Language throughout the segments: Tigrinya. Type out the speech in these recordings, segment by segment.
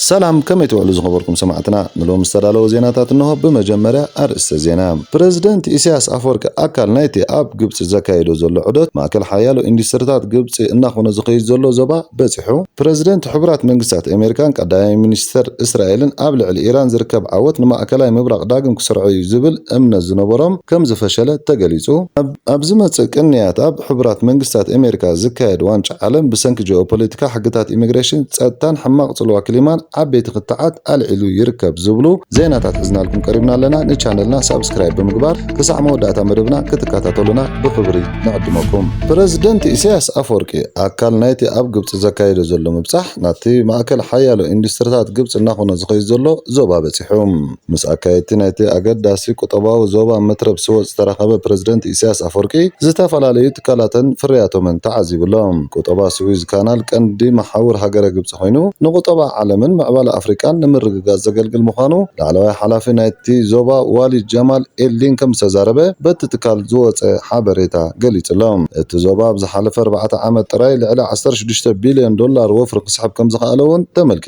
ሰላም ከመይ ትውዕሉ ዝኸበርኩም ሰማዕትና፣ ንሎሚ ዝተዳለወ ዜናታት እንሆ፣ ብመጀመርያ ኣርእስተ ዜና። ፕረዚደንት ኢሳያስ ኣፈወርቂ ኣካል ናይቲ ኣብ ግብጺ ዘካይዶ ዘሎ ዑደት፣ ማእከል ሓያሎ ኢንዱስትሪታት ግብጺ እናኾነ ዝኸይድ ዘሎ ዞባ በጺሑ፣ ፕረዚደንት ሕቡራት መንግስታት ኣሜሪካን ቀዳማይ ሚኒስተር እስራኤልን ኣብ ልዕሊ ኢራን ዝርከብ ዓወት ንማእከላይ ምብራቕ ዳግም ክሰርዖ'ዩ ዝብል እምነት ዝነበሮም ከምዝፈሸለ ተገሊጹ። ኣብ ዝመጽእ ቅንያት ኣብ ሕቡራት መንግስታት ኣሜሪካ ዝካየድ ዋንጫ ዓለም ብሰንኪ ጂኦፖለቲካ፣ ሕግታት ኢሚግሬሽን፣ ጸጥታን ሕማቕ ጽልዋ ክሊማን ዓበይቲ ክትዓት ኣልዒሉ ይርከብ ዝብሉ ዜናታት ሒዝናልኩም ቀሪብና ኣለና። ንቻነልና ሳብስክራይብ ብምግባር ክሳዕ መወዳእታ መደብና ክትከታተሉና ብኽብሪ ንዕድመኩም። ፕረዚደንት ኢሳያስ ኣፍወርቂ ኣካል ናይቲ ኣብ ግብጺ ዘካይዶ ዘሎ ምብጻሕ ናብቲ ማእከል ሓያሎ ኢንዱስትሪታት ግብጺ እናኾነ ዝኸይድ ዘሎ ዞባ በጺሑ። ምስ ኣካየድቲ ናይቲ ኣገዳሲ ቁጠባዊ ዞባ መትረብ ስወጥ ዝተራኸበ ፕረዚደንት ኢሳያስ ኣፈወርቂ፣ ዝተፈላለዩ ትካላተን ፍርያቶምን ተዓዚቡ ኣሎ። ቁጠባ ስዊዝ ካናል ቀንዲ መሓውር ሃገረ ግብጺ ኮይኑ፣ ንቁጠባ ዓለምን ምዕባለ ኣፍሪቃን ንምርግጋጽ ዘገልግል ምዃኑ ላዕለዋይ ሓላፊ ናይቲ ዞባ ዋሊድ ጀማል ኤልዲን ከምዝተዛረበ በቲ ትካል ዝወጸ ሓበሬታ ገሊጹ ኣሎ። እቲ ዞባ ኣብ ዝሓለፈ ኣርባዕተ ዓመት ጥራይ ልዕሊ ዓሰርተ ሽዱሽተ ቢልዮን ዶላር ወፍሪ ክስሕብ ከምዝኸኣለ'ውን ተመልኪቱ።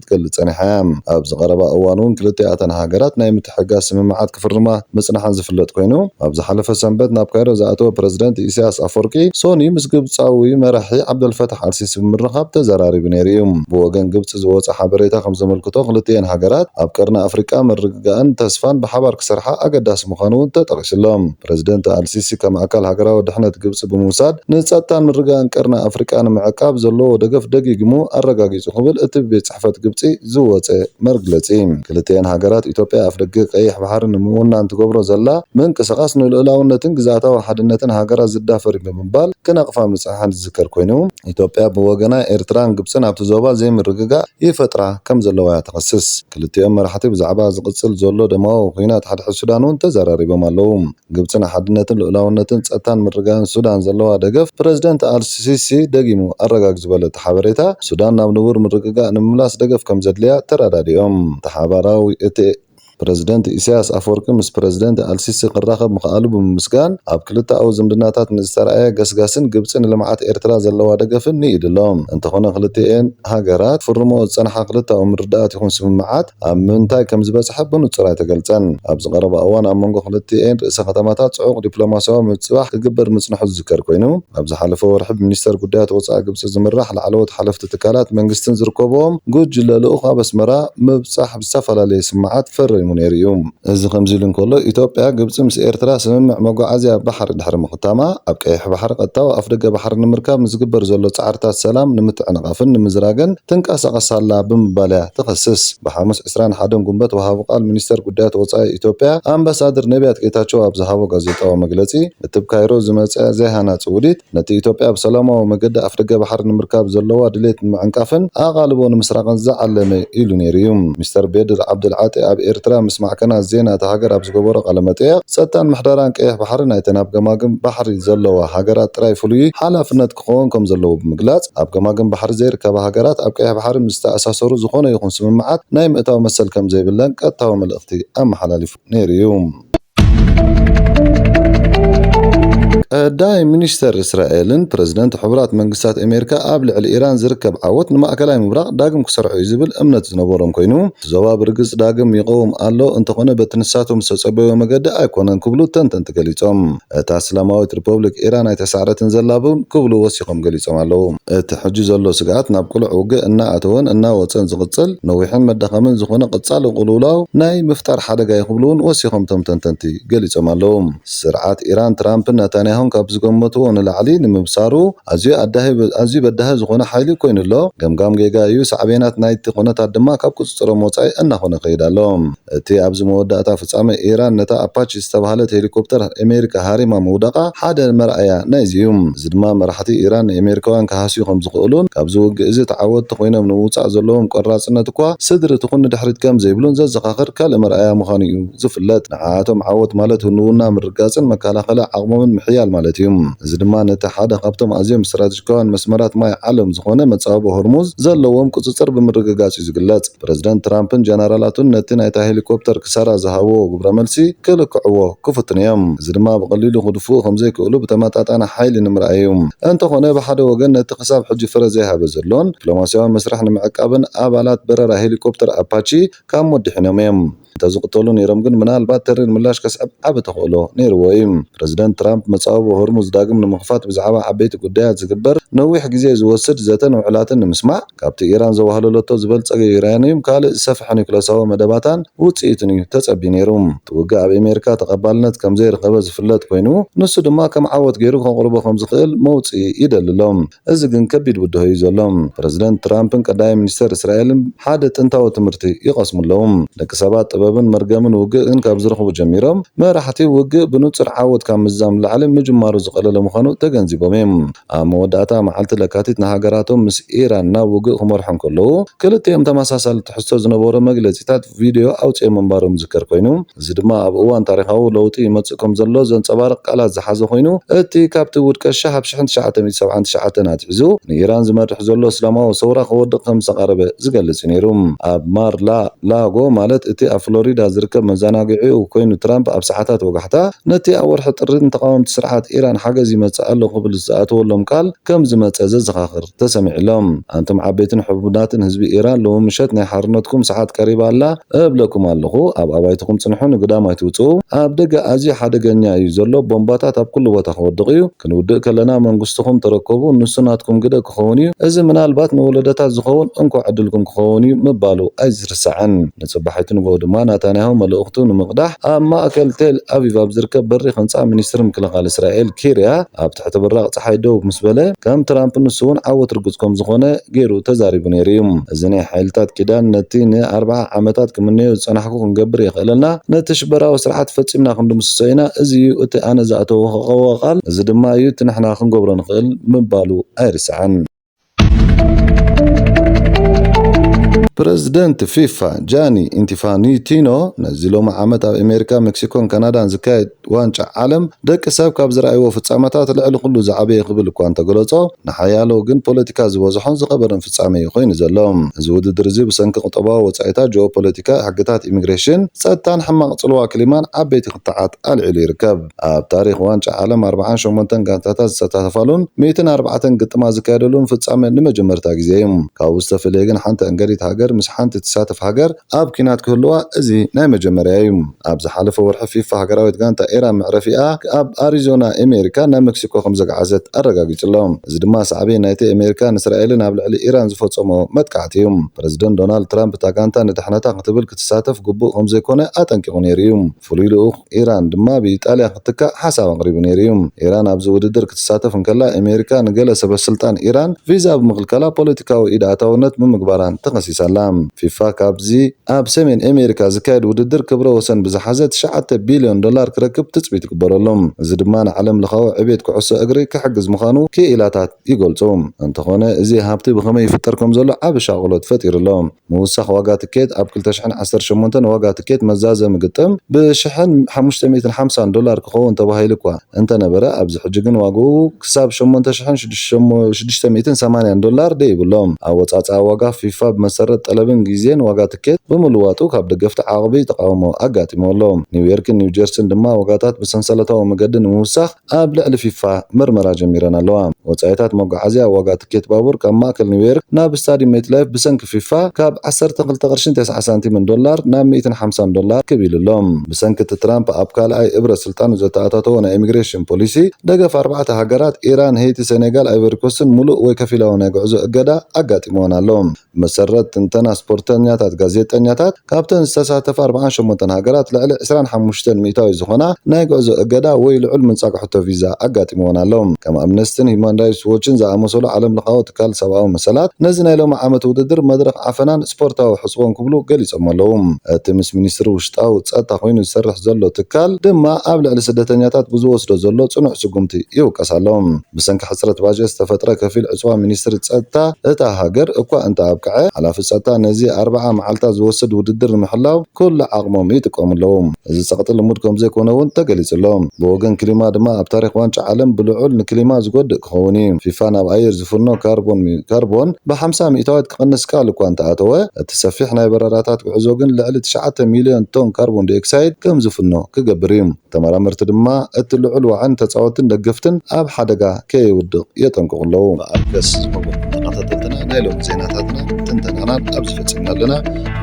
ክትገልጽ ጸኒሓ እያ። ኣብዚ ቀረባ እዋን'ውን ክልቲኣተን ሃገራት ናይ ምትሕግጋዝ ስምምዓት ክፍርማ ምጽንሐን ዝፍለጥ ኮይኑ፣ ኣብ ዝሓለፈ ሰንበት ናብ ካይሮ ዝኣተወ ፕረዚደንት ኢሳይያስ ኣፍወርቂ፣ ሶኒ ምስ ግብጻዊ መራሒ ዓብደልፈታሕ ኣልሲሲ ብምርኻብ ተዘራሪቡ ነይሩ እዩ። ብወገን ግብጺ ዝወጸ ሓበሬታ ከም ዘመልክቶ ክልቲኤን ሃገራት ኣብ ቀርኒ ኣፍሪቃ ምርግጋእን ተስፋን ብሓባር ክሰርሓ ኣገዳሲ ምዃኑ'ውን ተጠቒሱ'ሎ። ፕረዚደንት ኣልሲሲ ከም ኣካል ሃገራዊ ድሕነት ግብጺ ብምውሳድ ንጸጥታን ምርግጋእን ቀርኒ ኣፍሪቃ ንምዕቃብ ዘለዎ ደገፍ ደጊግሙ ኣረጋጊጹ ክብል እቲ ብቤት ጽሕፈት ግብጺ ዝወጸ መርግለጺ ክልቲኤን ሃገራት ኢትዮጵያ ኣፍደገ ቀይሕ ባሕሪ ንምውናን ትገብሮ ዘላ ምንቅስቓስ ንልኡላውነትን ግዝኣታዊ ሓድነትን ሃገራት ዝዳፈር'ዩ ብምባል ክነቕፋ ምጽንሐን ዝዝከር ኮይኑ ኢትዮጵያ ብወገና ኤርትራን ግብጽን ኣብቲ ዞባ ዘይምርግጋእ ይፈጥራ ከምዘለዋ'ያ ትኸስስ። ክልቲኦም መራሕቲ ብዛዕባ ዝቕጽል ዘሎ ደማዊ ኲናት ሓድሕድ ሱዳን'ውን ተዘራሪቦም ኣለዉ። ግብጺ ንሓድነትን ልኡላውነትን ጸጥታን ምርግጋእን ሱዳን ዘለዋ ደገፍ ፕረዚደንት ኣል-ሲሲ ደጊሙ ኣረጋጊጹ ዝበለቶ ሓበሬታ፣ ሱዳን ናብ ንቡር ምርግጋእ ንምምላስ ደገፍ ከምዘድልያ ተረዳዲኦም። እቲ ሓባራዊ እቲ ፕረዚደንት ኢሳይያስ ኣፈወርቂ ምስ ፕረዚደንት ኣል-ሲሲ ክራኸብ ምኽኣሉ ብምምስጋን፣ ኣብ ክልተኣዊ ዝምድናታት ንዝተራእየ ገስጋስን ግብጺ ንልምዓት ኤርትራ ዘለዋ ደገፍን ንኢዱ'ሎ። እንተኾነ ክልቲኤን። ሃገራት ክፍርምኦ ዝጸንሓ ክልተኣዊ ምርድዳኣት ይኹን ስምምዓት ኣብ ምንታይ ከም ዝበጽሐ ብንጹር ኣይተገልጸን። ኣብዚ ቀረባ እዋን ኣብ መንጎ ክልቲኤን ርእሰ ከተማታት ጽዑቕ ዲፕሎማስያዊ ምብጽባሕ ክግበር ምጽንሑ ዝዝከር ኮይኑ፣ ኣብ ዝሓለፈ ወርሒ ብሚኒስተር ጉዳያት ወጻኢ ግብጺ ዝምራሕ ላዕለዎት ሓለፍቲ ትካላት መንግስትን ዝርከብዎም ጉጅለ ልኡኽ ኣብ ኣስመራ ምብጻሕ ዝተፈላለየ ስምዓት ፈሪሙ ነይሩ'ዩ። እዚ ከምዚ'ሉ እንከሎ፣ ኢትዮጵያ፣ ግብጺ ምስ ኤርትራ ስምምዕ መጓዓዝያ ባሕሪ ድሕሪ ምኽታማ፣ ኣብ ቀይሕ ባሕሪ ቀጥታዊ ኣፍደገ ባሕሪ ንምርካብ ንዝግበር ዘሎ ጻዕርታት ሰላም ንምትዕንቓፍን ንምዝራግን ትንቀሳቐስ ኣላ ብምባል'ያ ትኸስስ። ብሓሙስ ዕስራን ሓደን ጉንበት ወሃቢ ቃል ሚኒስተር ጉዳያት ወጻኢ ኢትዮጵያ ኣምባሳድር ነብያት ጌታቸው ኣብ ዝሃቦ ጋዜጣዊ መግለጺ፣ እቲ'ብ ካይሮ ዝመጸ ዘይሃናጺ ውዲት፣ ነቲ ኢትዮጵያ ብሰላማዊ መገዲ ኣፍደገ ባሕሪ ንምርካብ ዘለዋ ድሌት ንምዕንቃፍን ኣቓልቦ ንምስራቕን ዝዓለመ እዩ ኢሉ ነይሩ እዩ። ሚስተር ቤድር ዓብደል ዓጢ ኣብ ኤርትራ ምስ ማዕከናት ዜና እታ ሃገር ኣብ ዝገበሮ ቃለ-መጠይቕ፣ ጸጥታን ምሕደራን ቀይሕ ባሕሪ ናይተን ኣብ ገማግም ባሕሪ ዘለዋ ሃገራት ጥራይ ፍሉይ ሓላፍነት ክኸውን ከም ዘለዎ ብምግላጽ፣ ኣብ ገማግም ባሕሪ ዘይርከባ ሃገራት ኣብ ቀይሕ ባሕሪ ምስ ዝተኣሳሰሩ ዝኾነ ይኹን ስምምዓት ናይ ምእታው መሰል ከም ዘይብለን ቀጥታዊ መልእኽቲ ኣመሓላሊፉ። ነይሩ እዩ። ቀዳይ ሚኒስተር እስራኤልን ፕረዚደንት ሕቡራት መንግስታት ኣሜሪካ ኣብ ልዕሊ ኢራን ዝርከብ ዓወት ንማእከላይ ምብራቕ ዳግም ክሰርዖ እዩ ዝብል እምነት ዝነበሮም ኮይኑ እቲ ዞባ ብርግጽ ዳግም ይቐውም ኣሎ እንተኾነ በቲ ንሳቶም ዝተጸበይዎ መገዲ ኣይኮነን ክብሉ ተንተንቲ ገሊጾም። እታ እስላማዊት ሪፖብሊክ ኢራን ኣይተሳዕረትን ዘላ ውን ክብሉ ወሲኾም ገሊጾም ኣለዉ። እቲ ሕጂ ዘሎ ስግኣት ናብ ቅሉዕ ውግእ እናኣተወን እናወጸን ዝቕጽል ነዊሕን መዳኸምን ዝኾነ ቐጻሊ ቕልውላው ናይ ምፍጣር ሓደጋ እዩ ክብሉ ውን ወሲኾም እቶም ተንተንቲ ገሊጾም ኣለዉ። ስርዓት ኢራን ትራምፕን ነታንያሁን ካብ ዝገመትዎ ንላዕሊ ንምብሳሩ ኣዝዩ ኣዳሂ ኣዝዩ በዳሂ ዝኾነ ሓይሊ ኮይኑ ኣሎ። ገምጋም ጌጋ እዩ፣ ሳዕቤናት ናይቲ ኩነታት ድማ ካብ ቁጽጽሮም ወጻኢ እናኾነ ይኸይድ ኣሎ። እቲ ኣብዚ መወዳእታ ፍጻሜ፣ ኢራን ነታ ኣፓቺ ዝተባህለት ሄሊኮፕተር ኣሜሪካ ሃሪማ ምውዳቓ ሓደ መርኣያ ናይዚ እዩ። እዚ ድማ መራሕቲ ኢራን ንኣሜሪካውያን ክሃስዩ ከም ዝኽእሉን ካብዚ ውግእ'ዚ ተዓወትቲ ኮይኖም ንምውጻእ ዘለዎም ቆራጽነት እኳ ስድሪ ትኹን ንድሕሪት ከም ዘይብሉን ዘዘኻኽር ካልእ መርኣያ ምዃኑ'ዩ ዝፍለጥ። ንዓኣቶም ዓወት ማለት ህልውና ምርግጋጽን መከላኸሊ ዓቕሞምን ምሕያል ማለት እዩ። እዚ ድማ ነቲ ሓደ ካብቶም ኣዝዮም ስትራተጂካውያን መስመራት ማይ ዓለም ዝኾነ መጻብቦ ሆርሙዝ ዘለዎም ቁጽጽር ብምርግጋጽ እዩ ዝግለጽ። ፕረዚደንት ትራምፕን ጀነራላቱን ነቲ ናይታ ሄሊኮፕተር ክሳራ ዝሃብዎ ግብረመልሲ ክልክዕዎ ክፍትኑ'ዮም። እዚ ድማ ብቐሊሉ ክድፍኡ ከምዘይክእሉ ብተመጣጣኒ ሓይሊ ንምርኣይ'ዩ። እንተኾነ ብሓደ ወገን ነቲ ክሳብ ሕጂ ፍረ ዘይሃበ ዘሎን ዲፕሎማስያዊ መስርሕ ንምዕቃብን ኣባላት በረራ ሄሊኮፕተር ኣፓቺ ካብ ሞት ድሒኖም'ዮም። እንተ ዝቕተሉ ነይሮም ግን ምናልባት ተሪር ምላሽ ከስዕብ ዓቢ ተኽእሎ ነይርዎ እዩ። ፕረዚደንት ትራምፕ መጻብቦ ሆርሙዝ ዳግም ንምኽፋት ብዛዕባ ዓበይቲ ጉዳያት ዝግበር ነዊሕ ግዜ ዝወስድ ዘተን ውዕላትን ንምስማዕ፣ ካብቲ ኢራን ዘዋህለለቶ ዝበልጸገ ዩራንዩም ካልእ ዝሰፍሐ ኑክለሳዊ መደባታን ውጽኢቱን እዩ ተጸብዩ ነይሩ። እቲ ውግእ ኣብ ኣሜሪካ ተቐባልነት ከም ዘይረኸበ ዝፍለጥ ኰይኑ፣ ንሱ ድማ ከም ዓወት ገይሩ ከቕርቦ ከም ዝኽእል መውጽኢ ይደሊ ኣሎ። እዚ ግን ከቢድ ብድሆ እዩ ዘሎ። ፕረዚደንት ትራምፕን ቀዳማይ ሚኒስተር እስራኤልን ሓደ ጥንታዊ ትምህርቲ ይቐስሙ ኣለዉ። ደቂ ሰባት ጥበብን መርገምን ውግእን ካብ ዝረኽቡ ጀሚሮም፣ መራሕቲ ውግእ ብንጹር ዓወት ካብ ምዝዛም ንላዕሊ ምጅማሩ ዝቐለለ ምዃኑ ተገንዚቦም እዮም። ኣብ መወዳእታ መዓልቲ ለካቲት ንሃገራቶም ምስ ኢራን ናብ ውግእ ክመርሑ እንከለዉ፣ ክልቲኦም ተመሳሳሊ ትሕዝቶ ዝነበሮ መግለጺታት ቪድዮ ኣውጺኦም ምንባሮም ዝዝከር ኮይኑ፣ እዚ ድማ ኣብ እዋን ታሪኻዊ ለውጢ ይመጽእ ከም ዘሎ ዘንጸባርቕ ቃላት ዝሓዘ ኮይኑ፣ እቲ ካብቲ ውድቀት ሸሕ ኣብ ሽሕን ትሽዓተ ሚእቲ ሰብዓን ትሽዓተን ኣትሒዙ ንኢራን ዝመርሕ ዘሎ እስላማዊ ሰውራ ክወድቕ ከም ዝተቓረበ ዝገልጽ እዩ ነይሩ። ኣብ ማር ላ ላጎ ማለት እቲ ኣብ ፍሎሪዳ ዝርከብ መዘናግዒኡ ኮይኑ ትራምፕ ኣብ ሰዓታት ወጋሕታ ነቲ ኣብ ወርሒ ጥሪ ንተቓወምቲ ስርዓት ኢራን ሓገዝ ይመጽእ ኣሎ ክብል ዝኣተወሎም ቃል ከም ዝመጸ ዘዘኻኽር ተሰሚዕሎም ኣንቱም ዓበይትን ሕቡናትን ህዝቢ ኢራን ሎሚ ምሸት ናይ ሓርነትኩም ሰዓት ቀሪባ ኣላ እብለኩም ኣለኹ ኣብ ኣባይትኹም ጽንሑ ንግዳም ኣይትውጽኡ ኣብ ደገ ኣዝዩ ሓደገኛ እዩ ዘሎ ቦምባታት ኣብ ኩሉ ቦታ ክወድቕ እዩ ክንውድእ ከለና መንግስትኹም ተረከቡ ንሱ ናትኩም ግደ ክኸውን እዩ እዚ ምናልባት ንወለዶታት ዝኸውን እንኮ ዕድልኩም ክኸውን እዩ ምባሉ ኣይትርሳዕን። ንጽባሒቱ ንግሆ ድማ ናታንያሁ መልእኽቱ ንምቕዳሕ ኣብ ማእከል ቴል ኣቪቭ ኣብ ዝርከብ በሪኽ ህንጻ ሚኒስትሪ ምክልኻል እስራኤል ኪርያ ኣብ ትሕቲ ብራቕ ጸሓይ ደው ምስ በለ ከም ትራምፕ ንሱ'ውን ዓወት ርጉጽ ከም ዝኾነ ገይሩ ተዛሪቡ ነይሩ'ዩ። እዚ ናይ ሓይልታት ኪዳን ነቲ ን ኣርብዓ ዓመታት ክምነዮ ዝጸናሕኩ ክንገብር የኽእለና፣ ነቲ ሽበራዊ ስርዓት ፈጺምና ክንድምስሶ ኢና፣ እዚ እዩ እቲ ኣነ ዝኣተውክዎ ቃል፣ እዚ ድማ እዩ እቲ ንሕና ክንገብሮ ንኽእል ምባሉ ኣይርሳዕን። ፕረዚደንት ፊፋ ጃኒ ኢንቲፋኒቲኖ ነዚ ሎሚ ዓመት ኣብ ኣሜሪካ፣ ሜክሲኮን ካናዳን ዝካየድ ዋንጫ ዓለም ደቂ ሰብ ካብ ዝረኣይዎ ፍጻመታት ልዕሊ ኩሉ ዝዓበየ ክብል እኳ እንተገለጾ ንሓያሎ ግን ፖለቲካ ዝበዝሖን ዝኸበረን ፍጻመ እዩ ኮይኑ ዘሎ። እዚ ውድድር እዚ ብሰንኪ ቁጠባዊ ወጻኢታት፣ ጂኦፖለቲካ፣ ሕግታት ኢሚግሬሽን፣ ጸጥታን ሕማቕ ጽልዋ ክሊማን ዓበይቲ ክትዓት ኣልዒሉ ይርከብ። ኣብ ታሪኽ ዋንጫ ዓለም ኣርብዓን ሸሞንተን ጋንታታት ዝሰታተፋሉን ሚእትን ኣርባዕተን ግጥማት ዝካየደሉን ፍጻመ ንመጀመርታ ግዜ እዩ። ካብኡ ዝተፈለየ ግን ሓንቲ ዕንገሊት ሃገር ምስ ሓንቲ ትሳተፍ ሃገር ኣብ ኲናት ክህልዋ እዚ ናይ መጀመርያ እዩ። ኣብ ዝሓለፈ ወርሒ ፊፋ ሃገራዊት ጋንታ ኢራን መዕረፊኣ ኣብ ኣሪዞና ኤሜሪካ ናብ መክሲኮ ከም ዘግዓዘት ኣረጋጊጹ ኣሎ። እዚ ድማ ሳዕቤን ናይቲ ኤሜሪካን እስራኤልን ኣብ ልዕሊ ኢራን ዝፈጸምኦ መጥቃዕቲ እዩ። ፕረዚደንት ዶናልድ ትራምፕ እታ ጋንታ ንድሕነታ ክትብል ክትሳተፍ ግቡእ ከም ዘይኮነ ኣጠንቂቑ ነይሩ እዩ። ፍሉይ ልኡኽ ኢራን ድማ ብኢጣልያ ክትካእ ሓሳብ ኣቕሪቡ ነይሩ እዩ። ኢራን ኣብዚ ውድድር ክትሳተፍ እንከላ፣ ኤሜሪካ ንገለ ሰበስልጣን ኢራን ቪዛ ብምኽልካላ ፖለቲካዊ ኢድ ኣእታውነት ብምግባራን ተኸሲሳ ኣላ። ፊፋ ካብዚ ኣብ ሰሜን ኤሜሪካ ዝካየድ ውድድር ክብረ ወሰን ብዝሓዘ ትሽዓተ ቢልዮን ዶላር ክረክብ ትጽቢት ይግበረሉ። እዚ ድማ ንዓለም ለኻዊ ዕብየት ኩዕሶ እግሪ ክሕግዝ ምዃኑ ክኢላታት ይገልጹ። እንተኾነ እዚ ሃብቲ ብኸመይ ይፍጠር ከምዘሎ ዓቢ ሻቕሎት ፈጢሩ ኣሎ። ምውሳኽ ዋጋ ትኬት ኣብ ክልተ ሽሕን ዓሰርተ ሸሞንተን ዋጋ ትኬት መዛዘሚ ግጥም ብ ሽሕን ሓሙሽተ ሚእትን ሓምሳን ዶላር ክኸውን ተባሂሉ'ኳ እንተነበረ ኣብዚ ሕጂ ግን ዋጋኡ ክሳብ ሸሞንተ ሽሕን ሽዱሽተ ሚእትን ሰማንያን ዶላር ደይቡ ኣሎ። ኣወጻጽኣ ዋጋ ፊፋ ብመሰረት ጠለብን ግዜን ዋጋ ትኬት ብምልዋጡ ካብ ደገፍቲ ዓቕቢ ተቓውሞ ኣጋጢምዎ ኣሎ። ኒውዮርክን ኒውጀርሲን ድማ ዋጋታት ብሰንሰለታዊ መገዲ ንምውሳኽ ኣብ ልዕሊ ፊፋ ምርመራ ጀሚረን ኣለዋ። ወጻኢታት መጓዓዝያ፣ ዋጋ ትኬት ባቡር ካብ ማእከል ኒውዮርክ ናብ ስታድዩም ሜትላይፍ ብሰንኪ ፊፋ ካብ ዓሰርተ ክልተ ቅርሺን ተስዓ ሳንቲምን ዶላር ናብ ሚእትን ሓምሳን ዶላር ክብ ኢሉ ኣሎ። ብሰንኪ እቲ ትራምፕ ኣብ ካልኣይ እብረ ስልጣኑ ዘተኣታተዎ ናይ ኢሚግሬሽን ፖሊሲ፣ ደገፍ ኣርባዕተ ሃገራት፣ ኢራን፣ ሄይቲ፣ ሰኔጋል፣ ኣይቮሪኮስትን፣ ምሉእ ወይ ከፊላዊ ናይ ጉዕዞ እገዳ ኣጋጢምወን ኣሎ። ብመሰረት ትንተና ስፖርተኛታት ጋዜጠኛታት ካብተን ዝተሳተፋ ኣርብዓን ሸሞንተን ሃገራት ልዕሊ ዕስራን ሓሙሽተን ሚእታዊ ዝኾና ናይ ጉዕዞ እገዳ ወይ ልዑል ምንጻግ ሕቶ ቪዛ ኣጋጢምወን ኣሎ። ከም ኣምነስትን ሂዩማን ራይትስ ዎችን ዝኣመሰሉ ዓለምለኻዊ ትካል ሰብኣዊ መሰላት ነዚ ናይ ሎሚ ዓመት ውድድር መድረኽ ዓፈናን ስፖርታዊ ሕጽቦን ክብሉ ገሊጾሞ ኣለዉ። እቲ ምስ ሚኒስትሪ ውሽጣዊ ጸጥታ ኮይኑ ዝሰርሕ ዘሎ ትካል ድማ ኣብ ልዕሊ ስደተኛታት ብዝወስዶ ዘሎ ጽኑዕ ስጉምቲ ይውቀስ ኣሎ። ብሰንኪ ሕጽረት ባጀት ዝተፈጥረ ከፊል ዕጽዋ ሚኒስትሪ ጸጥታ እታ ሃገር እኳ እንተኣብቅዐ፣ ሓላፊ ጸጥታ ነዚ ኣርብዓ መዓልታት ዝወስድ ውድድር ንምሕላው ኩሉ ዓቕሞም ይጥቀሙ ኣለዉ። እዚ ጸቕጢ ልሙድ ከምዘይኮነ'ውን ተገሊጹ'ሎ። ብወገን ክሊማ ድማ ኣብ ታሪኽ ዋንጫ ዓለም ብልዑል ንክሊማ ዝጎድእ ክኸውን እዩ። ፊፋ ናብ ኣየር ዝፍኖ ካርቦን ብሓምሳ ሚእታዊት ክቕንስ ቃል እኳ እንተኣተወ፣ እቲ ሰፊሕ ናይ በረራታት ጉዕዞ ግን ልዕሊ ትሽዓተ ሚልዮን ቶን ካርቦንዳይኦክሳይድ ከምዝፍኖ ክገብር እዩ። ተመራመርቲ ድማ እቲ ልዑል ዋዕን ተጻወትን ደገፍትን ኣብ ሓደጋ ከየውድቕ የጠንቅቑ ኣለዉ። መኣገስ ዝኸበርኩም ተኸታተልትና ናይ ሎሚ ዜናታትናን ትንተናናን ኣብዚ ፈጺምና ኣለና።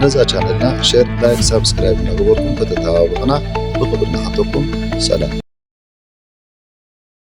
ነዛ ቻነልና ሼር፣ ላይክ፣ ሳብስክራይብ እናገበርኩም ከተተባብዑና ብኽብሪ ንሓተኩም። ሰላም።